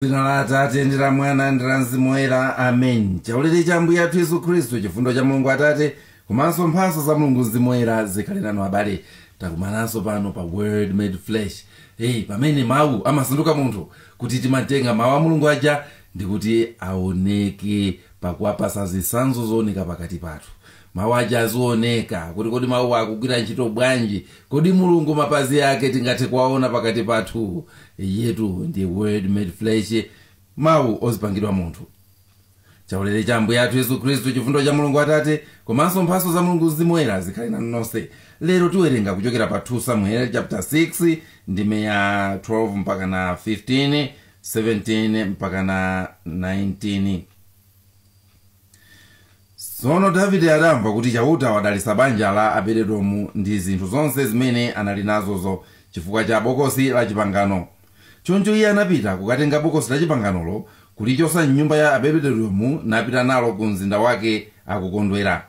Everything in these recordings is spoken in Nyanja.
dzina la atate ndi la mwana ndi la mzimu woyera amen chaulere cha ambuye athu yesu khristu chifundo cha mulungu atate komanso mphatso za mulungu mzimu woyera zikhale nanu abale takumananso pano pa word made flesh pamene mawu amasanduka munthu kuti timatenga mawu a mulungu aja ndi kuti aoneke pakuwapasa zitsanzo zooneka pakati pathu mawu aja azioneka kuti kodi mawu akugwira ntchito bwanji kodi mulungu mapazi ake tingathe kuwaona pakati pathu iyetu ndi word made flesh mawu ozipangidwa munthu chaulere cha ambuye athu yesu khristu chifundo cha mulungu atate komanso mphatso za mulungu mzimu woyera zikhale nanu nonse lero tiwerenga kuchokera pa 2 samuel chapter 6 ndime ya 12 mpaka na 15 17 mpaka na 19 tsono davide adamva kuti chauta wadalitsa banja la abededomu ndi zinthu zonse zimene anali nazozo chifukwa cha bokosi la chipangano choncho iye anapita kukatenga bokosi la chipanganolo kulichotsa m'nyumba ya abededomu napita nalo ku mzinda wake akukondwera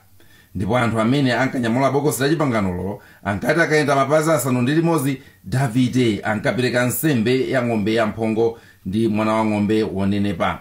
ndipo anthu amene ankanyamula bokosi la chipanganolo ankati akayenda mapazi asanu ndi limodzi davide ankapereka nsembe ya ng'ombe yamphongo ndi mwana wa ng'ombe wonenepa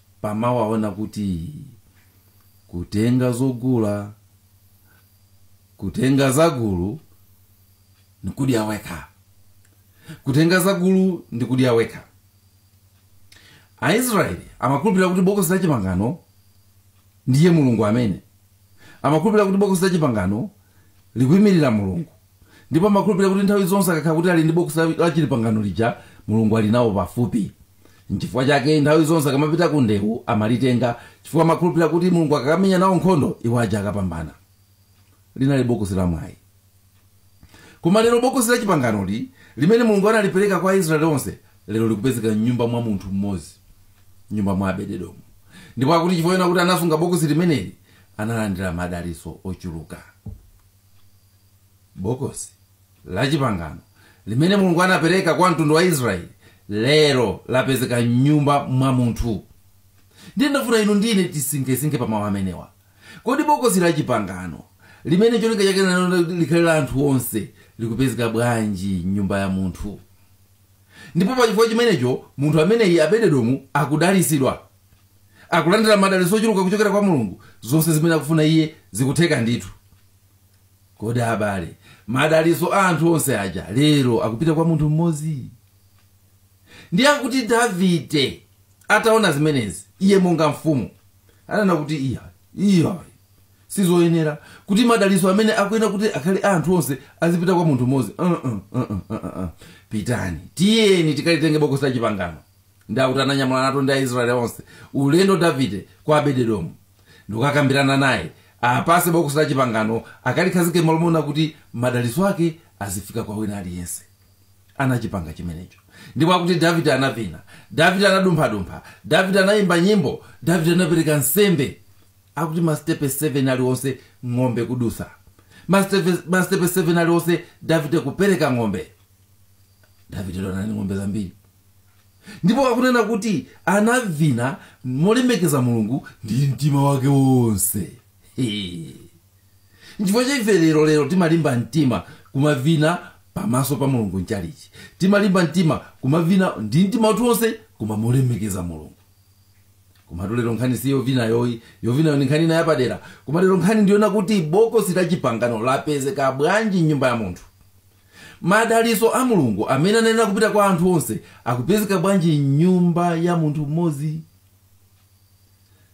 pa mawu awa onena kuti kutenga zogula kutenga zagulu ndikudya wekha kutenga zagulu ndikudya wekha aisraeli amakhulupilira kuti bokosi la chipangano ndiye mulungu amene amakhulupilira kuti bokosi la chipangano likuyimirira mulungu ndipo amakhulupirira kuti nthawi zonse akakhala kuti ali ndi bokosi la- la chipangano lija mulungu ali nawo pafupi n'chifukwa chake nthawi zonse akamapita ku ndewu amalitenga chifukwa amakhulupirira kuti mulungu akakamenya nawo nkhondo iwo aja akapambana linali bokosi la mwayi koma lero bokosi la chipanganoli limene mulungu analipereka kwa aisraeli onse lero likupezeka m'nyumba mwa munthu mmodzi nyumba mwa abededomu ndipo akuti chifukwa choti anasunga bokosi limeneli analandira madalitso ochuluka bokosi la chipangano limene mulungu anapereka kwa mtundu wa aisraeli lero lapezeka m'nyumba mwa munthu ndiye ndafuna inu ndi ine tisinkhesinkhe pa mawu amenewa kodi bokosi la chipangano limene cholinga chake china n'nakuti likhale la anthu onse likupezeka bwanji m'nyumba ya munthu ndipo pa chifukwa chimenecho munthu ameneyi abededomu akudalitsidwa akulandira madalitso ochuluka kuchokera kwa mulungu zonse zimene akufuna iye zikutheka ndithu kodi abale madalitso a anthu onse aja lero akupita kwa munthu mmodzi ndiye akuti davide ataona zimenezi iye monga mfumu ananena kuti iya iya sizoyenera kuti madalitso amene akuyenera kuti akhale a anthu onse azipita kwa munthu mmodzi uh -uh, uh -uh, uh -uh. pitani tiyeni tikalitenge bokosi la chipangano ndi akuti ananyamula Natani ndi aisraeli onse ulendo davide kwa abededomu ndikukakambirana naye apase bokosi la chipangano akalikhazike malo moona kuti madalitso ake azifika kwa wina aliyense anachipanga chimenecho ndipo akuti davide anavina davide anadumphadumpha davide anayimba nyimbo davide anapereka nsembe akuti masitepe 7 aliwonse ng'ombe kudusa masitepe 7 aliwonse davide kupereka ng'ombe davide onani ng'ombe zambiri ndipo akunena kuti anavina molemekeza mulungu ndi mtima wake wonse nchifukwa chake ife lero lero timalimba mtima kumavina pamaso pa mulungu mchalichi timalimba mtima kumavina ndi mtima wathu wonse kumamulemekeza mulungu komatu lero nkhani si yovinayo ayi yovinayo ndi nkhani ina yapadera koma lero nkhani ndi yonena kuti bokosi la chipangano lapezeka bwanji mnyumba ya munthu Madalitso a Mulungu amene anayenera kupita kwa anthu onse akupezeka bwanji m'nyumba ya munthu mmodzi?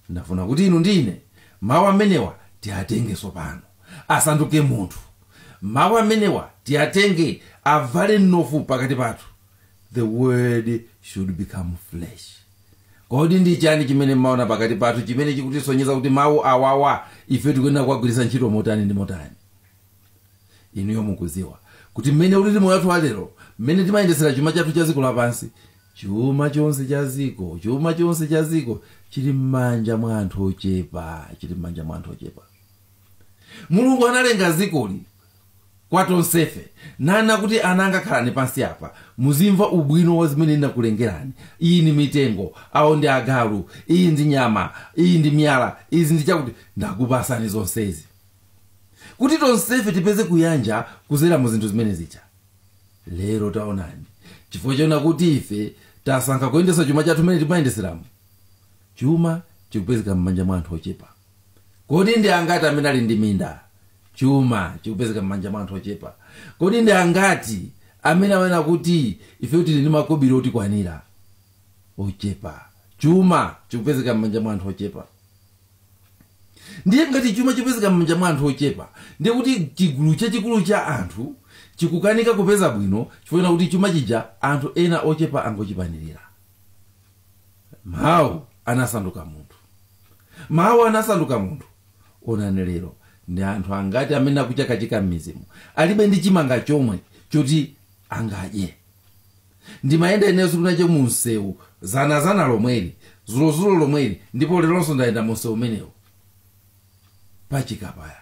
Ndafuna kuti inu ndi ine mawu amenewa tiatenge tsopano, asanduke munthu. Mawu amenewa tiatenge avale mnofu pakati pathu. The word should become flesh. Kodi ndi chani chimene timaona pakati pathu chimene chikutisonyeza kuti mawu awawa ife tikuyenera kuwagwiritsa ntchito motani ndi motani? inuyo mukudziwa kuti mmene ulili moyo wathu walero mmene timayendetsera chuma chathu cha dziko lapansi chuma chonse cha dziko chili m'manja mwa anthu ochepa chili m'manja mwa anthu ochepa mulungu analenga dzikoli kwa tonsefe nanena kuti ana anga khalani pansi apa muzimva ubwino wa zimene ndinakulengerani iyi ndi mitengo awo ndi agalu iyi ndi nyama iyi ndi miyala izi ndi zakuti ndakupasani zonsezi kuti tonsefe tipeze kuyanja kuzera mu zinthu zimenezija lero taonani chifukwa chonena kuti ife tasankha kuyendesa chuma chathu mmene timayendeseramo chuma chikupezeka m'manja mwa anthu ochepa kodi ndi angati amene ali ndi minda chuma chikupezeka m'manja mwa anthu ochepa kodi ndi angati amene anena kuti ife tili ndi makobiri otikwanira ochepa chuma chikupezeka m'manja mwa anthu ochepa ndiye ngati chuma chipezeka m'manja mwa anthu ochepa ndiye kuti chigulu chachikulu cha anthu chikukanika kupeza bwino chifukwa chonena kuti chuma chija anthu ena ochepa angochipanirira mawu anasanduka munthu mawu anasanduka munthu onani lero ndi anthu angati amene akuchakachika m'mizimo alibe ndi chimanga chomwe choti angadye Ndimayenda ineyo tsikutu nali nje mu msewu, zanazana lomweli, zulozulo lomweli, ndipo lelonso ndayenda mu msewu umenewu pa Chikapaya,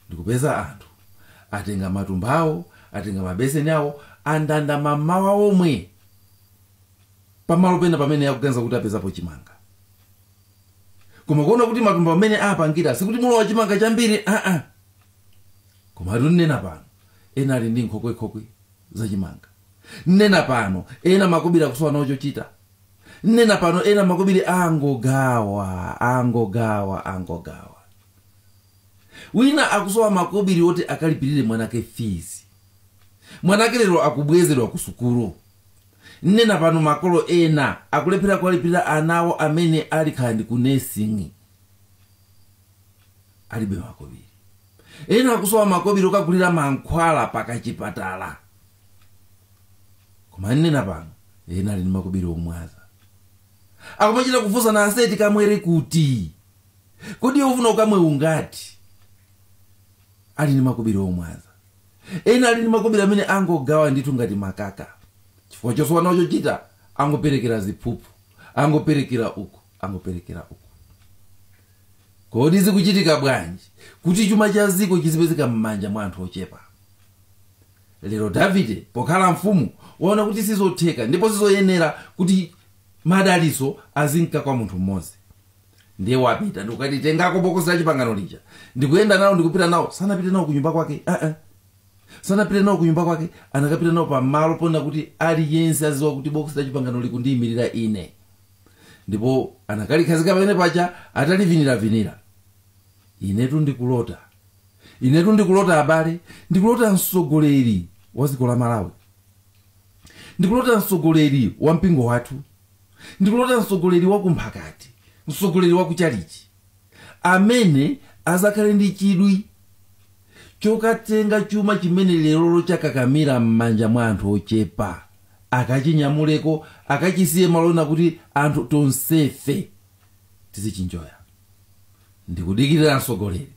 ndikupeza anthu atenga matumba awo, atenga mabeseni awo, andanda mammawa omwe pa malo pena pamene akuganiza kuti apezapo chimanga. Koma kuona kuti matumba mmene aapangira sikuti mulowa chimanga chambiri, aa. komatu nnena pano ena ali ndi nkhokwekhokwe zachimanga nnena pano ena makobiri akusowa nawo chochita nnena pano ena makobiri angogawa angogawa angogawa wina akusowa makobiri oti akalipirire mwanake fizi mwanake lero akubwezedwa ku sukulu nnena pano makolo ena akulephera kuwalipirira ana awo amene ali khandi ku nesing'i alibe makobiri ena akusowa makobiri okagulira mankhwala pakachipatala koma nnena pano ena ali ndi makobiri omwaza akumachita kufunsana ase tikamwere kuti kodi iwe ufuna ukamwe ungati ali ndi makobiri omwaza ena ali ndi makobiri amene angogawa ndithu ngati makaka chifukwa chosowa nawo chochita angoperekera ziphuphu angoperekera uku angoperekera uku kodi zikuchitika bwanji kuti chuma cha dziko chizipezeka m'manja mwa anthu ochepa lero davide pokhala mfumu waona kuti sizotheka ndipo sizoyenera kuti madaliso azinka kwa munthu mmodzi ndiye wapita ndikukati tengako bokosi la chipangano lija ndikuyenda nawo ndikupita nawo sanapite nawo kunyumba kwake uh -uh. sanapite nawo kunyumba kwake anakapita nawo pamalo ponena kuti aliyense aziwa kuti bokosi la chipangano likundiyimirira ine ndipo anakalikhazika pamenepaja ataliviniravinira inetu ndikulota inetu ndikulota abale ndikulota mtsogoleri wa dziko la malawi ndikulota mtsogoleri wa mpingo wathu ndikulota mtsogoleri wa kumphakati mtsogoleri wa kuchalichi amene azakhale ndi chidwi chokatenga chuma chimene leroli chakakamira m'manja mwa anthu ochepa akachinyamuleko akachisiye malo ena kuti anthu tonsefe tizichinjoya ndikudikirira mtsogoleri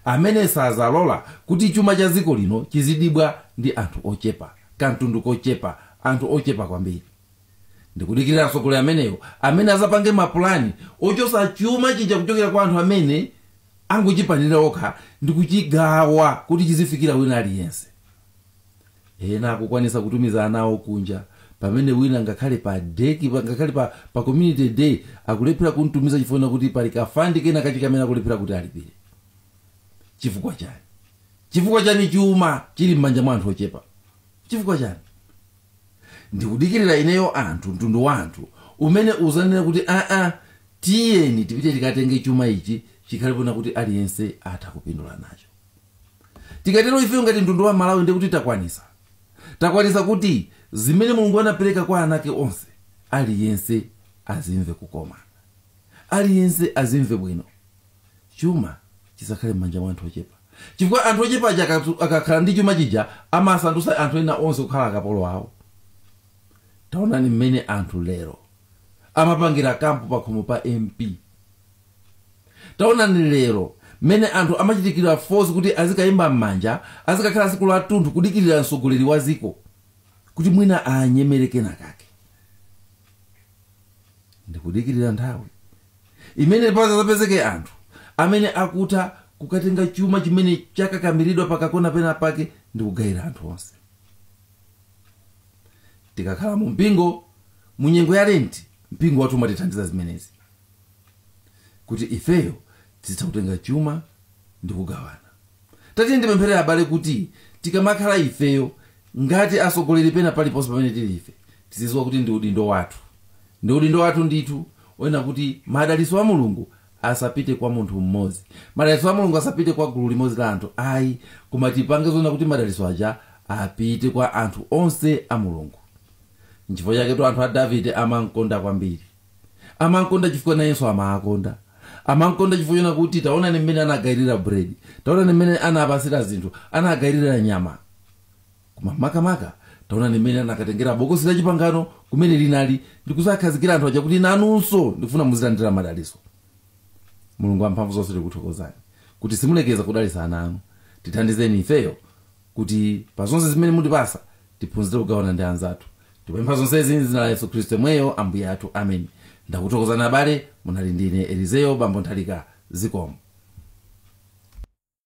amene sazalola kuti chuma cha dziko lino chizidibwa ndi anthu ochepa kamtundu kochepa anthu ochepa kwambiri ndikudikirira atsogoleri amenewo amene azapange mapulani ochosa chuma chija kuchokera kwa anthu amene angochipanira okha ndi kuchigawa kuti chizifikira wina aliyense ena akukwanisa kutumiza ana awo kunja pamene wina ngakhale pa deki pa- ngakhale pa, pa community day akulephera kumtumiza chifukwa kuti pali kafandi kena kache kamene akulephera kuti alipire chifukwa chani chifukwa chani chuma chili m'manja mwa anthu ochepa chifukwa chani ndikudikirira ineyo anthu mtundu wa anthu umene uzanena kuti aa tiyeni tipite tikatenge chuma ichi chikhale pona kuti aliyense atha kupindula nacho tikatero ifeyo ngati mtundu wa malawi ndi kuti takwanisa takwanisa kuti zimene mulungu anapereka kwa ana ake onse aliyense azimve kukoma aliyense azimve bwino chuma chisakhale m'manja mwa anthu ochepa chifukwa anthu ochepa aja akakhala ndi chuma chija amasandutsa anthu ena onse kukhala akapolo awo taonani mmene anthu lero amapangira kampu pakhomo pa mp taonani lero mmene anthu amachitikira force kuti azikayimba m'manja azikakhala siku latunthu kudikirira mtsogoleri wa ziko kuti mwina anyemereke naye kake ndikudikirira nthawi imene pazapezeke anthu amene akutha kukatenga chuma chimene chakakamiridwa pakakona pena pake ndi kugayira anthu onse tikakhala mu mpingo mu nyengo ya lenti mpingo wathu umatithandiza zimenezi kuti ifeyo tizitha kutenga chuma ndi kugawana tatiyeni tipemphere abale kuti tikamakhala ifeyo ngati atsogoleri pena paliponse pamene tili ife tizidziwa kuti ndi udindo wathu ndi udindo wathu ndithu kuona kuti madalitso a mulungu asapite kwa munthu mmodzi madalitso a mulungu asapite kwa gulu limodzi la anthu ayi koma tipange zoonetsetsa kuti madalitso aja apite kwa anthu onse a mulungu nchifukwa chaketu anthu a davide amankonda kwambiri amankonda chifukwa nayenso amawakonda amankonda chifukwa choona kuti taonani mmene anagayirira bread taonani mmene anapasira zinthu anagayirira nyama koma makamaka taonani mmene anakatengera bokosi la chipangano kumene linali ndikuzakhazikira anthu aja kuti nanunso ndikufuna muzilandira madaliso mulungu amphamvu zonse tikuthokozani kuti simulekeza kudalisa ana anu tithandizeni ifeyo kuti pa zonse zimene mutipasa tiphunzire kugawana ndi anzathu tipempha zonsezi mzina la yesu khristu yemweyo ambuye athu amen ndakuthokozani abale munali ndine elizeo bambo nthalika zikomo